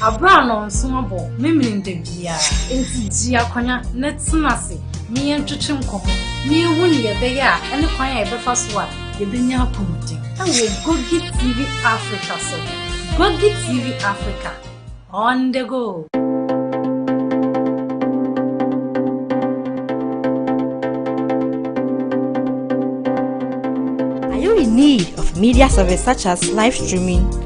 Aberɛ a nnɔnso abɔ memene da biara. Enti gye akwanya na tena ase na yɛntwetwe nkɔmmɔ na yɛhu nea ɛbɛyɛ a ɛne kwan a yɛbɛfa so a yɛbɛnya apɔmuden. Wɔ Gogi TV Africa so. Gogi TV Africa, on the go! Are you in need of media service such as live streaming?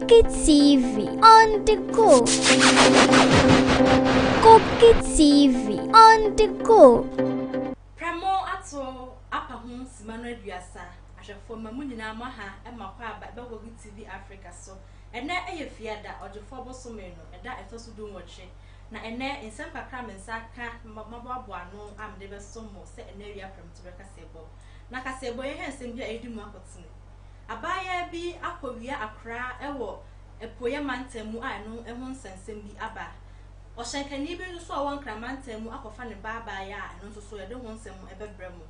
Koki TV on the go. Koki TV on the go. Prɛmo ato apa ho sima no aduasa. Ahwɛfoɔ ma mo nyinaa mo aha ma kɔ aba ɛbɛ Koki TV Africa so. Ɛnɛ ɛyɛ Fiada, Ɔgyefoɔ bosome no, ɛda ɛtɔ so dunwɔtwe. Na ɛnɛ nsɛm kakra a me nsa aka na maboaboa ano a mede bɛso mo sɛ ɛnɛ awia prɛmtoberɛ kaseɛbɔ. Na kaseɛbɔ yi ɛyɛ nsɛm bi a ɛredi mu akotene. Abaayaa bi akɔwia akora wɔ apueeɛ mantam mu a ɛno ho nsɛnsɛm bi aba. Ɔhyɛnkani bi nso a ɔwɔ Nkran mantam mu akɔfa ne ba abaayaa a ɛno nso so yɛde ho nsɛm bɛbrɛ mo.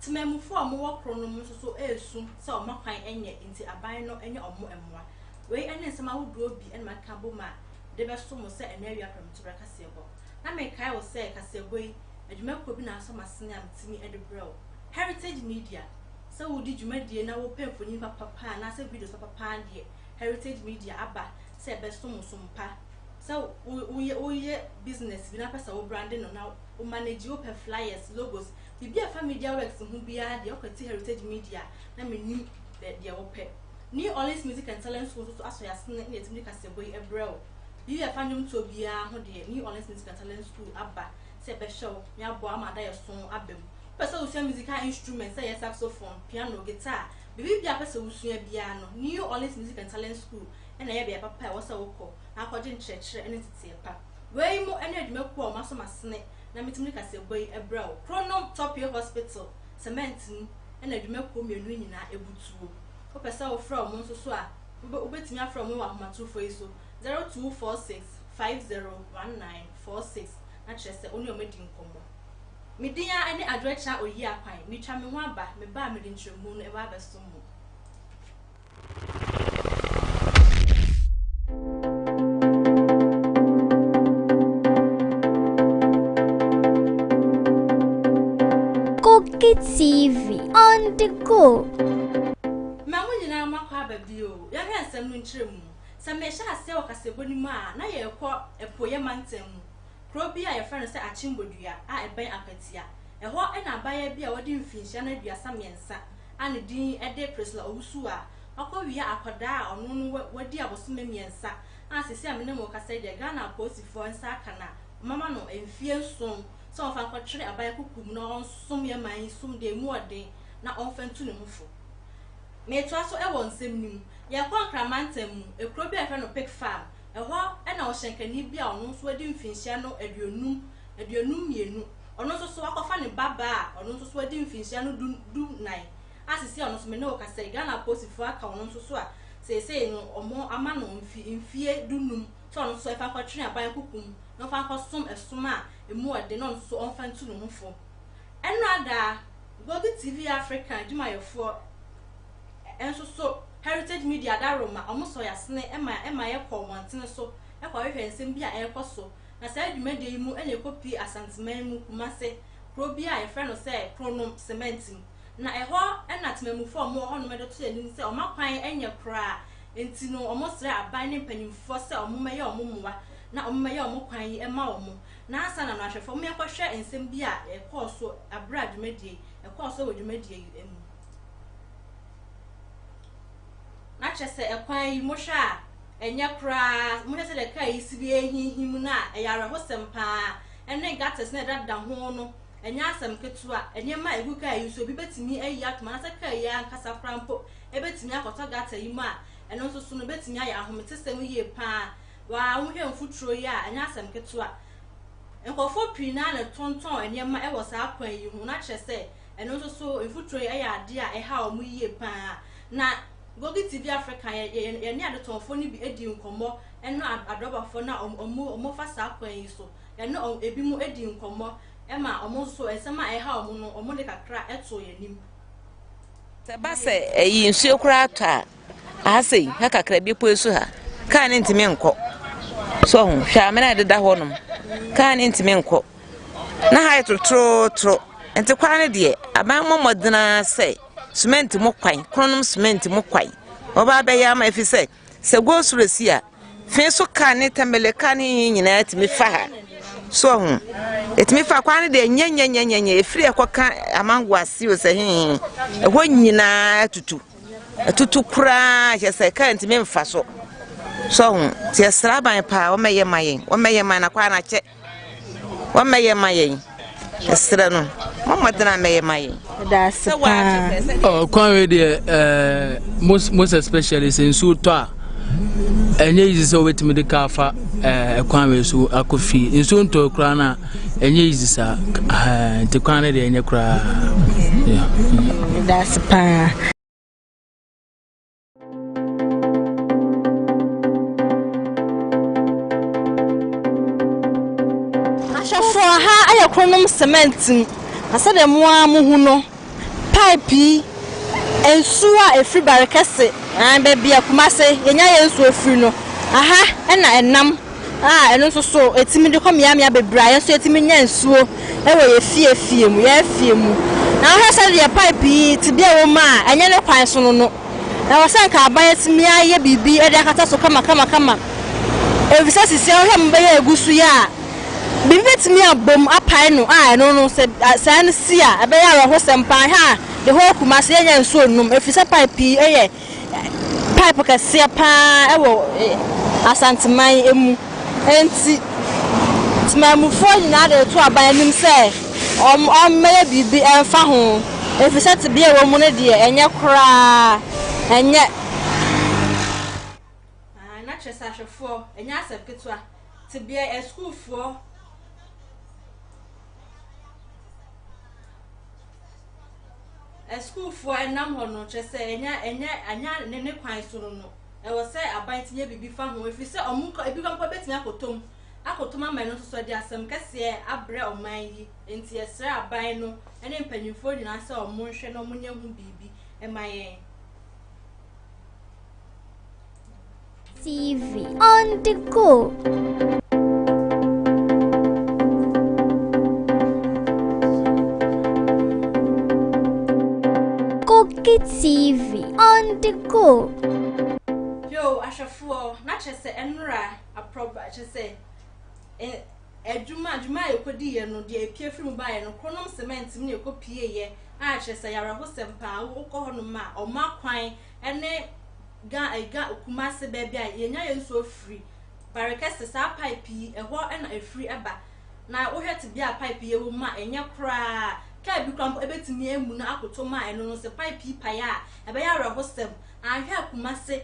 Temammufoɔ a wɔwɔ koro no mu nso so resu sɛ wɔn akwan nyɛ nti aban no nyɛ wɔn mmoa. Wei ne nsɛm ahodoɔ bi na makeka abom a mede bɛso mo sɛ ɛnnɛ awia prɛmtoberɛ kaseɛbɔ. Na mekae wo sɛ kaseɛbɔ yi, adwumakuo bi na asɔ m'asene a metumi de brɛ wo. Heritage Media. Sɛ wodi dwumadie na wopɛ mfonin papa pa anaasɛ videos papa pa ara deɛ, Heritage Media aba sɛ ɛbɛso mo som pa. Sɛ woyɛ woyɛ business bi na wopɛ sɛ wo brande no na wo manage, wopɛ flyers, logos, biribi a ɛfa media works ho biara deɛ, kɔte Heritage Media na menim deɛ wopɛ. New Orleans Music and Talent School nso so asɔ yɛn asene na yɛatumi de kaseɛbɔ yi brɛ wo. Biribi a ɛfa nnwomtoɔ biara ho deɛ, New Orleans Music and Talent School aba sɛ bɛhyɛ wo na yɛaboa ama adaeɛso no aba mu. Wopɛ sɛ wosua musical instruments sɛ ɛyɛ saxophone, piano, guitar, biribiara a wopɛ sɛ wosua biara no, New Orleans Music and Talent School na ɛyɛ beae papa a ɛwɔ sɛ wokɔ na akɔgye nkyerɛkyerɛ ne nteteɛ pa. Wei mo ne adwumakuo a wɔasɔ m'asene na metumi de kaseɛbɔ yi brɛ wo, Kronom Topie Hospital, Cement mu na adwumakuo mmienu yi nyinaa butuo. Wopɛ sɛ wofrɛ wɔn nso so a, wobɛtumi afrɛ wɔn wɔ ahomatrofoɔ yi so, Zero two four six five zero one nine four six na kyerɛ sɛ wo ne wɔn adi nkɔmmɔ. Me din ara ne Adwoakya Oyiakwan. Meretwa me ho aba, meba a mede ntrɛmu no ɛba abɛsom mo. Koki TV on the go. Ma mo nyinaa moakɔ aba bio. Yɛnhwɛ nsɛm no nkyerɛmu. Sɛ merehyɛ aseɛ wɔ Kasebo no mu a, na yɛrekɔ apueeɛ mantam mu, kuro bi a wɔfrɛ no sɛ Akyembodua a ɛbɛn Akwatia. Ɛhɔ na abaayewa bi a wadi mfinhyia no aduasa mmiɛnsa a ne din de Priscilla Owusu a wakɔwia akwadaa a ɔno no wadi abosome mmiɛnsa a seesei a me ne mo rekasa yi deɛ Ghana apolisifoɔ nsa aka no a wɔama no mfeɛ nson sɛ wɔmfa nkɔtwere aban kukuo mu na ɔnsom yɛn man yi som deɛ ɛmu ɔden na ɔmfa ntu ne ho fo. Meetoa so wɔ nsɛm no mu. Yɛkɔɔ Accra mantam mu, kuro bi a yɛfrɛ no Pick Farm. Ɛhɔ na ɔhyɛnkani bi a ɔno nso adi mfinhyia no aduonum, aduonum mmienu, ɔno nso so akɔfa ne ba baa a ɔno nso so adi mfinhyia no du, du nan, a seesei ɔno nso me ne wo kasa yi Ghana apolisifoɔ aka ɔno nso so a seesei no wɔn ama no mfi, mfie du num sɛ ɔno nso so ɛfa nkɔtwere aban kukum na ɔfa nkɔsom ɛsom a ɛmu ɔden na ɔno nso so ɔmfa ntu ne ho fo. Ɛnrada, Bogi TV Africa adwumayɛfoɔ nso so Heritage Media da roma wɔn sɔeasene ma ɛma yɛkɔ mmɔntene so kɔhwehwɛ nsɛm bi a ɛrekɔ so, na saa dwumadie yi mu na yɛkɔpie Asanteman mu Kumase kuro bi a yɛfrɛ no sɛ Kronom Cement mu, na ɛhɔ na temamufoɔ a wɔwɔ hɔnom de to yɛn anim sɛ wɔn akwan nyɛ koraa nti no wɔsrɛ aban ne mpanimfoɔ sɛ wɔmmɛyɛ wɔn mmoa na wɔmmɛyɛ wɔn kwan yi mma wɔn. Nnansa na no ahwɛfo mmea kɔhwɛ nsɛm bi a ɛkɔɔ so bere a dwumadie yi ɛkɔɔ so wɔ dwumadie yi mu. Na kyerɛ sɛ ɛkwan yi mohwɛ a ɛnyɛ koraa, mohwɛ sɛdeɛ kaa yi si bi ɛrehinhim no a ɛyɛ awerɛhosɛm paa ɛne gutters no a ɛdadeda ho no ɛnyɛ asɛm ketewa, nneɛma a ɛgu kaa yi so obi bɛtumi ayi atom anaasɛ kaa yi ankasa koraa mpo ɛbɛtumi akɔtɔ gutter yi mu a ɛno nso so no ɛbɛtumi ayɛ ahometesɛm yie paa Wɔ ahohia mfuturo yi a ɛnyɛ asɛm ketewa. Nkurɔfoɔ pii no ara na ɛtontɔn nneɛma wɔ saa kwan yi ho, na kyerɛ sɛ, ɛno nso so, mfuturo yi yɛ adeɛ a ɛha wɔn yie pa ara. Na Gogi TV Africa yɛ yɛne adetɔnfoɔ no bi dii nkɔmmɔ ne adɔbafoɔ no a wɔfa saa kwan yi so. Yɛne ebinom dii nkɔmmɔ ma wɔn nso so, nsɛm a ɛha wɔn no, wɔde kakra too yɛn anim. Sɛ ɛba sɛ ɛyi nsuo koraa tɔ a, Aha sei, ha kakra, bepɔ yi so ha, kaa no ntumi nkɔ. So ho, hwɛ amena a ɛdeda hɔ nom, kaa no ntumi nkɔ. Na ha yɛ torotorotoro, nti kwan no deɛ, aban mmɔ mmɔden ara sɛ semɛnti mu kwan, kronom semɛnti mu kwan, wɔba abɛyɛ ama ɛfiri sɛ, sɛ go slow si a, Fi so ka ne tɛmɛlɛ ka ne yi nyinaa tumi fa ha so ɔho ɛtumi fa kwan no deɛ nyɛnyɛnyɛnyɛnyɛ ɛfiri ɛkɔka amango ase o sɛ hehe ɛhɔ nyinaa tutu ɛtutu koraa kyɛ sɛ kaa ntumi mfa so so ɔho nti ɛsra aban paa wɔmɛyɛ ma yɛn wɔmɛyɛ ma na kwan akyɛ Wɔmmɛyɛ ma yɛn. Ɛsrɛ no, mo mmɔden a mmɛyɛ ma yɛn. Ɛdaase paa. Ɔkwan wei deɛ ɛɛ most most especially sɛ nsuo tɔ a ɛnyɛ easy sɛ wobɛtumi de kaa fa ɛɛ ɛkwan wei so akɔ fie nsuo ntɔ koraa na ɛnyɛ easy saa ɛɛ nti kwan no deɛ ɛnyɛ koraa. Ɛdaase paa. Ahwɛfoɔ, ha ayɛ kronom cement mu, na sɛdeɛ mo ara mohu no, pipe yi, nsuo a ɛfiri Barekɛse, baabi a Kumase, yɛnya yɛn nsuo firi no, aha na ɛnam. a ɛno nso so ɛtumi de kɔ mmeammea bebree a yɛn nso yɛtumi nya nsuo wɔ yɛn fie fie mu yɛn afie mu na wohwɛ sɛ deɛ pipe yi tebea wɔ mu a ɛnyɛ ne kwan so no no ɛwɔ sɛ nka aban atumi ayɛ biribi de akata so kama kama kama efisɛ sisi a wohwɛ mo bɛyɛ egu so yɛ a biribi betumi abom apae no a ɛno no sɛ saa no si a ɛbɛyɛ awerɛhosɛm paa hwɛ a de hɔ akuma sɛ yɛnya nsuo nom efisɛ pipe yi yɛ pipe kɛseɛ paa wɔ Asanteman mu. Enti temanmufoɔ nyinaa de reto aban anim sɛ wɔmmɛyɛ biribi mfa ho, ɛfiri sɛ tebea a ɛwɔ mu no deɛ, ɛnyɛ koraa, ɛnyɛ. Aane, na kyerɛ sɛ ahwɛfoɔ, ɛnyɛ asɛm ketewa, tebea, asukuufoɔ. Asukuufoɔ ɛnam hɔ no, kyerɛ sɛ ɛnyɛ ɛnyɛ ɛnyɛ ne ne kwan so no no, ɛwɔ sɛ aban ti yɛ biribi fa ho, ɛfiri sɛ ɔmo nka ebinom mpo bɛtumi akɔtɔ mu akɔtɔ mu ama ɛno nso so de asɛm kɛseɛ abrɛ ɔman yi, enti yɛsrɛ aban no ne mpanyinfoɔ nyinaa sɛ ɔmo nhwɛ na ɔmo nyɛ ho biribi mma yɛn. TV on the go. Koki TV on the go. Yo, ahwɛfoɔ na kyerɛ sɛ ɛnora aprɔba kyerɛ sɛ adwuma adwuma a yɛkɔdi yɛ no deɛ epie firi mu baeɛ no kɔnom cement mu na yɛkɔ pie yɛ a kyerɛ sɛ yɛawerɛhosɛm paa wokɔ hɔnom a ɔma kwan ɛne Ga eh Ga Kumase baabi a yɛnya yɛn nsuo firi, Barekɛse, saa pipe yi, ɛhɔ na ɛfiri ba. Na wohwɛ tebea a pipe yi wɔ mu a, ɛnyɛ koraa. Kaa bi koraa mpo ɛbɛtumi amu na akoto ma ɛno no sɛ pipe yi pae a, ɛbɛyɛ awerɛhosɛm. Anhwɛ a Kumase,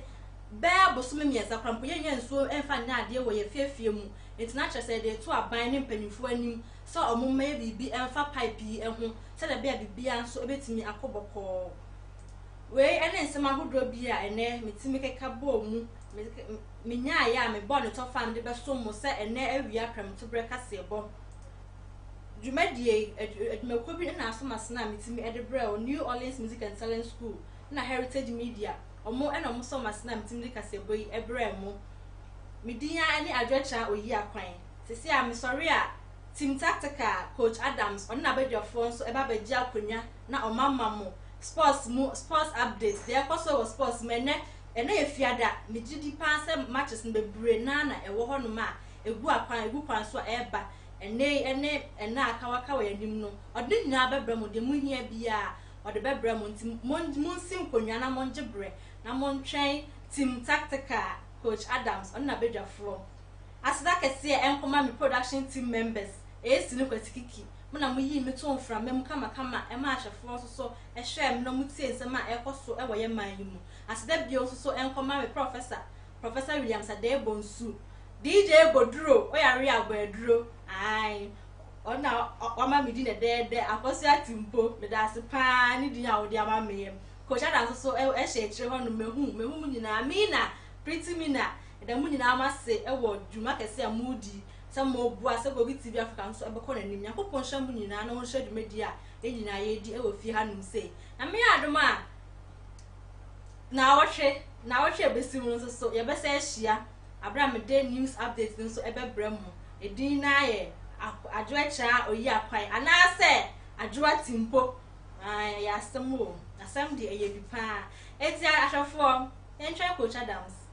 bɛyɛ bosome mmiɛnsa koraa mpo, yɛnnya nsuo mfa nyɛ adeɛ wɔ yɛn afiafie mu. Enti na kyerɛ sɛ yɛde reto aban ne mpanimfoɔ anim sɛ wɔmma yɛ biribi mfa pipe yi ho sɛdeɛ ɛbɛyɛ a biribiara nso bɛtumi akɔ bɔkɔɔ. Wei ne nsɛm ahodoɔ bi a ɛnnɛ metumi keka bɔɔ mu, menyaeɛ a mebɔɔ no tɔfam de bɛsom mo sɛ ɛnnɛ awia prɛmtoberɛ kaseɛbɔ dwumadie adwumakuo bi na aso masena a metumi de brɛɛ wo, New Orleans Music and Talent School na Heritage Media, wɔn na wɔsɔ masena a metumi de kaseɛbɔ yi brɛɛ mo. Me din ara ne Adwoakyira Oyiakwan. Seesei a mesɔre a, Team Tactical Coach Adams, ɔne n'abadwafoɔ nso ba bɛgye akonnwa. na ɔma ma mo sports mu sports updates deɛ ɛkɔ so wɔ sports mu ɛnɛ ɛnɛ yɛ fiada megye di paa sɛ matches no bebree naa na ɛwɔ hɔ nom a egu akwan egu kwan so a ɛreba ɛnɛ yi ɛne ɛnɛ a aka waka wɔ yɛn anim no ɔde ne nyinaa bɛbrɛ mo deɛ mo hia biara ɔde bɛbrɛ mo nti mo monsi nkonnwa na mongye brɛ na montwɛn team tactical coach adams ɔne n'abadwafoɔ aseda kɛseɛ ɛnkɔma me production team members ɛyɛ sini kwati kiki Mo na moyii me too mframa mu kamakama maa ahwɛfoɔ nso so hwɛɛ me na wɔtiee nsɛm a ɛrekɔ so wɔ yɛn man yi mu. Aseda bio nso so nkɔ ma me Prɔfɛsa, Professor Williams Adei Bonsu. DJ Goduro, Oyare a ɔbɔ aduro, ae, ɔno na wama me din dɛdɛɛdɛ, Akwasu Atimpo, meda ase pa ara ne din a wode ama me yi. Coach Ada nso so hyɛ akyire hɔnom, mahu, mahu mo nyinaa. Mina, Pretty Mina, meda mo nyinaa mo ase wɔ dwuma kɛse a moredi. sɛ ma ɔbua, sɛ Kogi TV Africa nso ɛbɛkɔ n'anim. Nyankopɔn nhyira mo nyinaa na ɔnhyira dwumadie a yɛn nyinaa yɛredi ɛwɔ fie ha nom sei. Na meyɛ adom a naawɔtwe, naawɔtwe a ɛbɛsi mu no nso so yɛbɛsɛ ahyia aberɛ a mede news update no nso ɛbɛbrɛ mo. Edin no ayɛ Adwoa Kyaa Oyi Akwan anaasɛ Adwoa Timpo. Ae, ɛyɛ asɛm o. Asɛm deɛ ɛyɛ bi paa. Enti ahwɛfoɔ, yɛntwɛn Coach Adams.